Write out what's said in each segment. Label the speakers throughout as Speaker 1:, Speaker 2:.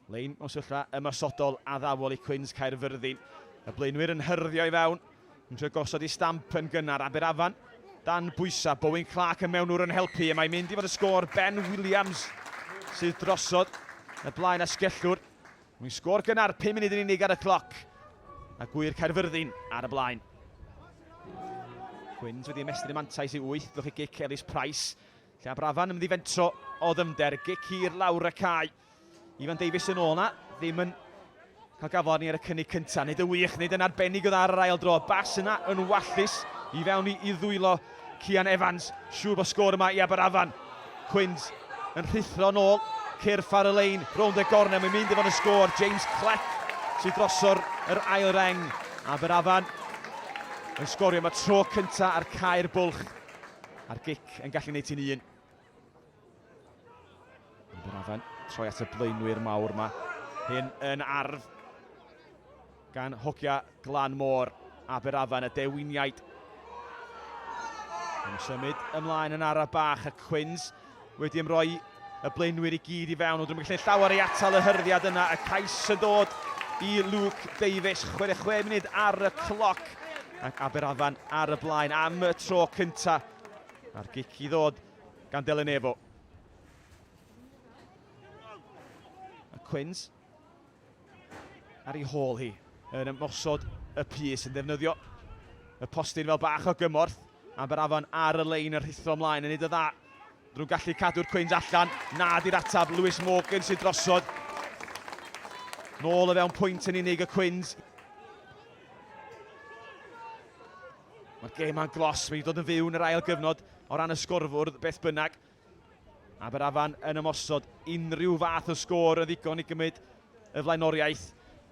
Speaker 1: Lein mewn syllla ymosodol addawol i Cwins Caerfyrddin. Y blaenwyr yn hyrddio i fewn, yn trio gosod i stamp yn gynnar Aberafan. Dan bwysa, Bowen Clark y mewnwr yn helpu, y mae mynd i fod y sgôr Ben Williams sydd drosod y blaen asgellwr. Mwyn sgôr gynnar, 5 munud yn unig ar y cloc. A gwir Caerfyrddin ar y blaen. Cwins wedi ymestyn y mantais i 8, lwch i gic Elis Price. Lle a Brafan yn ymddifentro o ddyfnder, gic hir lawr y cae. Ifan Davies yn ôl na, ddim yn cael gafel arni ar y cynnig cyntaf. Nid yn wych, nid yn arbennig o dda ar yr ail dro. Bas yna yn wallus i fewn i, i ddwylo Cian Evans. Siŵr bod sgôr yma i Aberafan. Cwyns yn rhuthro yn ôl, cyrff ar y lein, rownd y gornel, mae'n mynd efo'n y sgôr. James Cleck sydd droso'r yr ail reng. Aberafan yn sgorio, mae tro cyntaf ar cair bwlch. A'r gic yn gallu gwneud ti'n un. Ond yr afan troi at y blaenwyr mawr yma. Hyn yn arf gan hogia Glan Môr, Aberafan y dewiniaid. Yn symud ymlaen yn araf bach y Cwins. wedi ymroi y blaenwyr i gyd i fewn, ond rhywbeth lle llawer ei atal y hyrddiad yna. Y cais yn dod i Luke Davies, 66 munud ar y cloc, ac Aberafan ar y blaen am y tro cynta. A'r gic i ddod gan Delen Efo. A Quins Ar ei hôl hi, yn ymosod y pys, yn ddefnyddio y postyn fel bach o gymorth. Aberafan ar y lein yn rhithro ymlaen, yn neud o dda. Drwy'n gallu cadw'r cwins allan, na di'r atab, Lewis Morgan sy'n drosod. Nôl o fewn pwynt yn unig y cwins. Mae'r gêm a'n glos, mae'n dod yn fyw yn yr ail gyfnod o ran y sgorfwrdd, beth bynnag. Aberafan yn ymosod, unrhyw fath o sgôr yn ddigon i gymryd y flaenoriaeth.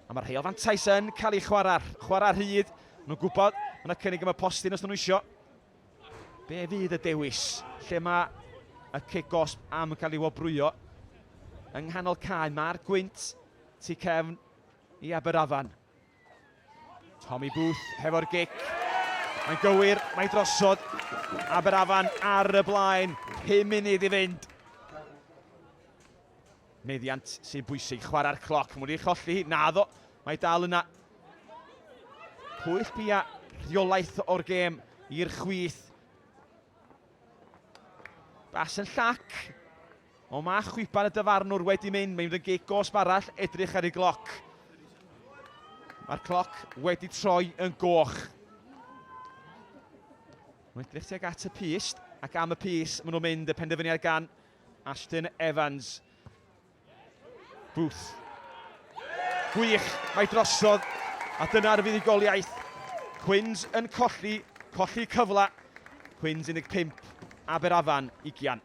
Speaker 1: A mae'r rheol fantais yn cael ei chwarae, chwarae rhydd. Maen nhw'n gwybod, mae yna cynnig am y postyn os nhw'n eisiau. Be fydd y dewis? Lle mae y cic gosb am cael ei wobrwyo? Yng nghanol cae, mae'r gwynt tu cefn i Aberafan. Tommy Booth hefo'r gic. Mae'n gywir, mae'n drosod. Aberafan ar y blaen, 5 munud i fynd. Meddiant sy'n bwysig, chwarae'r cloc. Mae'n wedi cholli hi, naddo. Mae dal yna pwyll bia rheolaeth o'r gêm i'r chwith. Bas yn llac. O mae chwipan y dyfarnwr wedi mynd, mae'n rhywun gig gosb arall, edrych ar ei gloc. Mae'r cloc wedi troi yn goch. Mae'n edrych tuag at y pist, ac am y pys maen nhw'n mynd y penderfyniad gan Ashton Evans. Booth. Gwych, mae drosodd, a dyna'r fuddugoliaeth. Cwins yn colli, colli cyfle. Cwins 15, Aberafan 20.